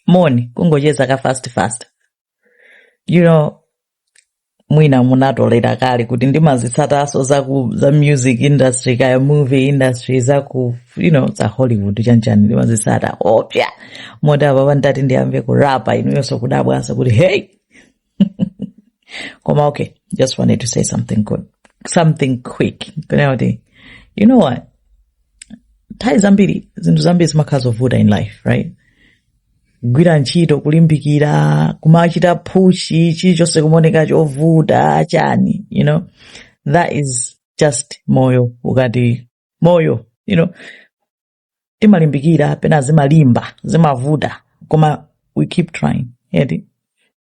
moni kungocheza ka fast fast you know mwina munatolera kale kuti ndimazitsataso za ku za music industry kaya movie industry za ku you know za hollywood chanchani ndimazitsata koopsa moti apa panditati ndiyambe kurapa inuyonso kudabwanso kuti hey koma okay just wanted to say something good something quick kunena kuti you know what nthawi zambiri zinthu zambiri zimakhala zovuta in life right kugwira ntchito kulimbikira kumachita phushi chilichonse kumaoneka chovuta chani you know that is just moyo ukati moyo you know timalimbikira pena zimalimba zimavuta koma we keep trying eti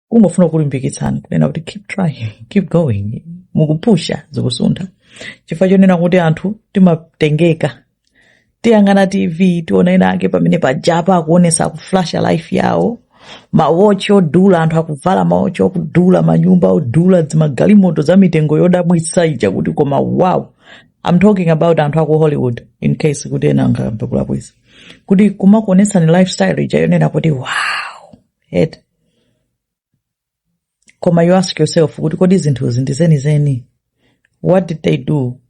kungofuna kulimbikitsani kunena kuti keep trying keep going mukupusha zikusuntha chifukwa chonena kuti anthu timatengeka tiyang'ana tv tiona ena ake pamene pajapa akuonesa akuflasha life yawo mawochi odula anthu akuvala mawochi okudula manyumba odula dzimagalimoto za mitengo yodabwitsa ija kuti koma wow I'm talking about anthu aku hollywood in case kuti ena angamve kolakwitsa kuti kumakuonetsani lifestyle ija yonena kuti wow eti koma you ask yourself kuti kodi zinthuzi ndi zenizeni what did they do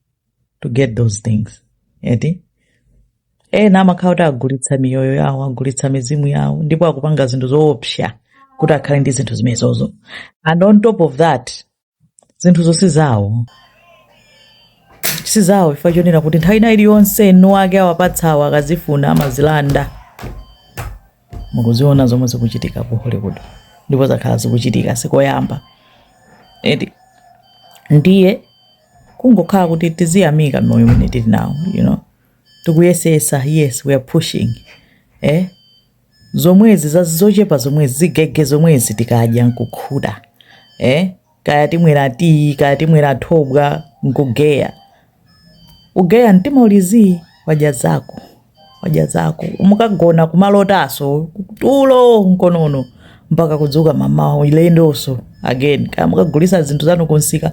to get those things eti ena amakhala kuti agulitsa miyoyo yawo agulitsa mizimu yawo ndipo akupanga zinthu zoopsa kuti akhale ndi zinthu zimenezozo and on top of that zinthuzo si zawo si zawo chifukwa chonena kuti nthawi ina iliyonse eni ake awapatsawo akazifuna amazilanda mukuziona zomwe zikuchitika ku hollywood ndipo zakhala zikuchitika sikoyamba eti ndiye kungokhala kuti tiziyamika moyo umene tili nawo you know tikuyesesa yes we are pushing eh zomwezi za zochepa zomwezi zigege zomwezi tikadya nkukhuta eh? kaya timwera tiyi kaya timwera thobwa nkugeya ugeya mtima uli zii wadya zako wadya zako mukagona kumalotaso tulo nkonono mpaka kudzuka mamawa ulendoso again kaya mukagulisa zinthu zanu kumsika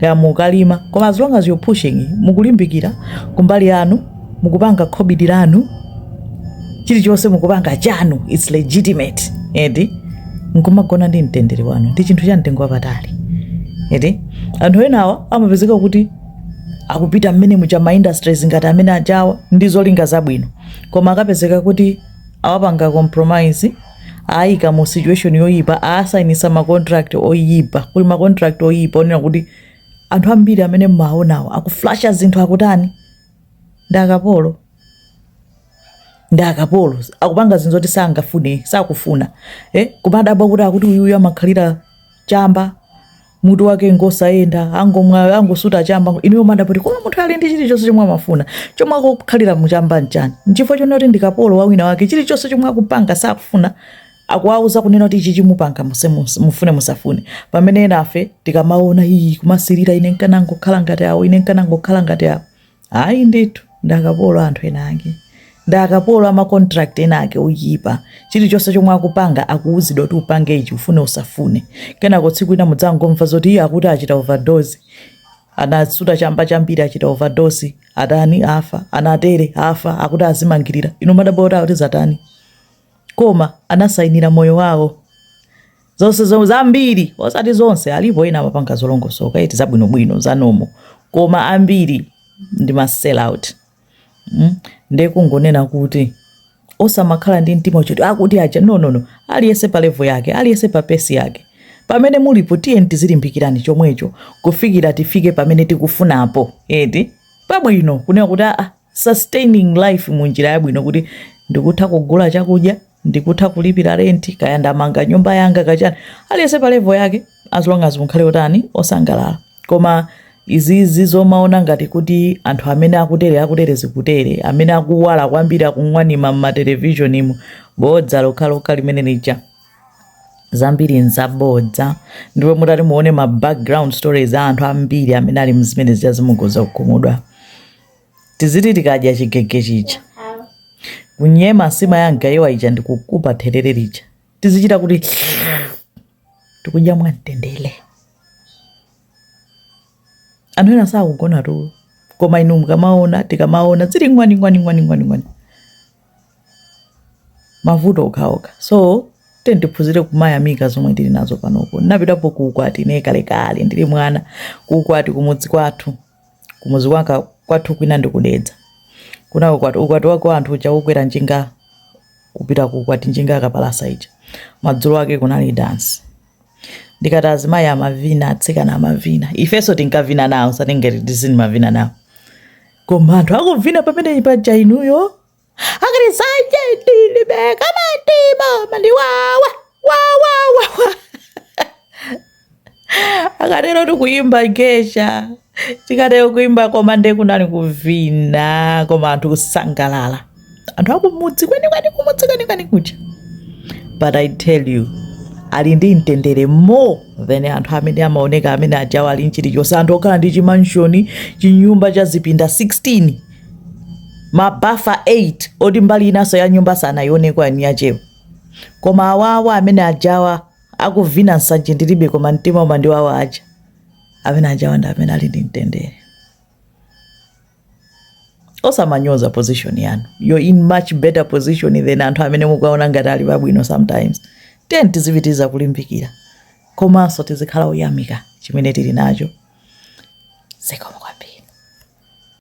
kaya mukalima koma as long as you're pushing mukulimbikira kumbali yanu mukupanga khobidi lanu chilichonse mukupanga chanu its legitimate eti nkumagona ndi mtendere wanu ndi chinthu cha mtengo wapatali eti anthu enawa amapezeka kuti akupita mmene muja ma industries ngati amene ajawa ndi zolinga zabwino koma akapezeka kuti awapanga compromise ayika mu situation yoyipa asayinisa ma contract oyipa kuli ma contract oyipa onena kuti anthu ambiri amene mmaonawo akuflasha zinthu akutani ndi akapolo ndi akapolo akupanga zinthu zoti sangafune sakufuna eh? nkumadabwa kuti akuti uyuyu amakhalira chamba mutu wake ngosayenda angomwa angosuta chamba inuyo mumadabwa kuti koma munthu ali ndi chilichonse chomwe amafuna chomwe akukhalira mu chamba nchani nchifukwa chonena kuti ndi kapolo wa wina wake chilichonse chomwe akupanga sakufuna akuwauza kunena kuti ichichi mupanga muse- muse- mufune musafune pamene enafe tikamaona iyi kumasirira ine nkanangokhala ngati awo ine nkanangokhala ngati awo ayi ndithu ndi akapolo a anthu ena ake ndi akapolo a ma contract ena ake oyipa chilichonse chomwe akupanga akuuzidwa kuti upange ichi ufune usafune kenako tsiku lina mudzangomva zoti iye akuti achita overdose anasuta chamba chambiri achita overdose atani afa anatere afa akuti azimangirira inu mumadabwa kuti zatani koma anasainira moyo wawo zonse zomwe zambiri osati zonse alipo ena amapanga zolongosoka eti zabwinobwino za nomo koma ambiri ndi ma sell out mm? nde kungonena kuti osamakhala ndi mtima choti akuti aja no no no aliyense pa level yake aliyense pa pace yake pamene mulipo tiyeni tizilimbikirani chomwecho kufikira tifike pamene tikufunapo eti pabwino kunena kuti aa sustaining life mu njira yabwino kuti ndikutha kugula chakudya ndikutha kulipira renti kaya ndamanga nyumba yanga kachani aliyense pa level yake as long as mukhale otani osangalala koma izizi zomaona ngati kuti anthu amene akutere akutere zikutere amene akuwala kwambiri akung'wanima mmatelevizionimu bodza lokhalokha limene lija zambiri nzabodza ndipo mutati muone ma background stories a anthu ambiri amene ali mzimene zija zija mukhoza kukhumudwa tiziti tikadya chigege chija kunyema nsima ya mgayiwa ija ndi kukupa therere lija tizichita kuti tikudya mwamtendere anthu ena sakugona tulo koma inu mukamaona tikamaona zili ngwani ngwani ngwani ngwani ngwani mavuto okhaokha so tiyeni tiphunzire kumayamika zomwe tili nazo panopo ndinapitapo ku ukwati ine kalekale ndili mwana ku ukwati kumudzi kwathu kumudzi kwanga kwathu kwinanso ndi ku dedza kunali ukwati ukwati wake anthu uja okwera njinga kupita ku ukwati njinga yakapalasa ija madzulo ake kunali dansi ndikati azimayi amavina atsikana amavina ifenso tinkavina nawo sa teenage ndi zina timavina nawo koma anthu akuvina pamene paja inuyo akati nsanje ndilibe koma mtima umandiwawa wawawawa akatero tikuyimba gesha tikatero kuyimba koma nde kunali kuvina koma anthu kusangalala anthu akumudzi kwenikweni kumudzi kwenikweni kuja but i tell you ali ndi mtendere more than anthu amene amaoneka amene ajawo ali nchilichonse anthu okhala ndi chimanshoni chinyumba cha zipinda 16 mabafa 8 oti mbali inanso ya nyumba sanayioneko yanyiyachewo koma awawa amene ajawa akuvina nsanje ndilibe koma mtima umandiwawa aja amene ajawa ndi amene ali ndi mtendere osamanyoza position yanu you're in much better position than anthu amene mukuwaona ngati ali pabwino sometimes tiyeni tizipitiriza kulimbikira komanso tizikhala oyamika chimene tili nacho zikomo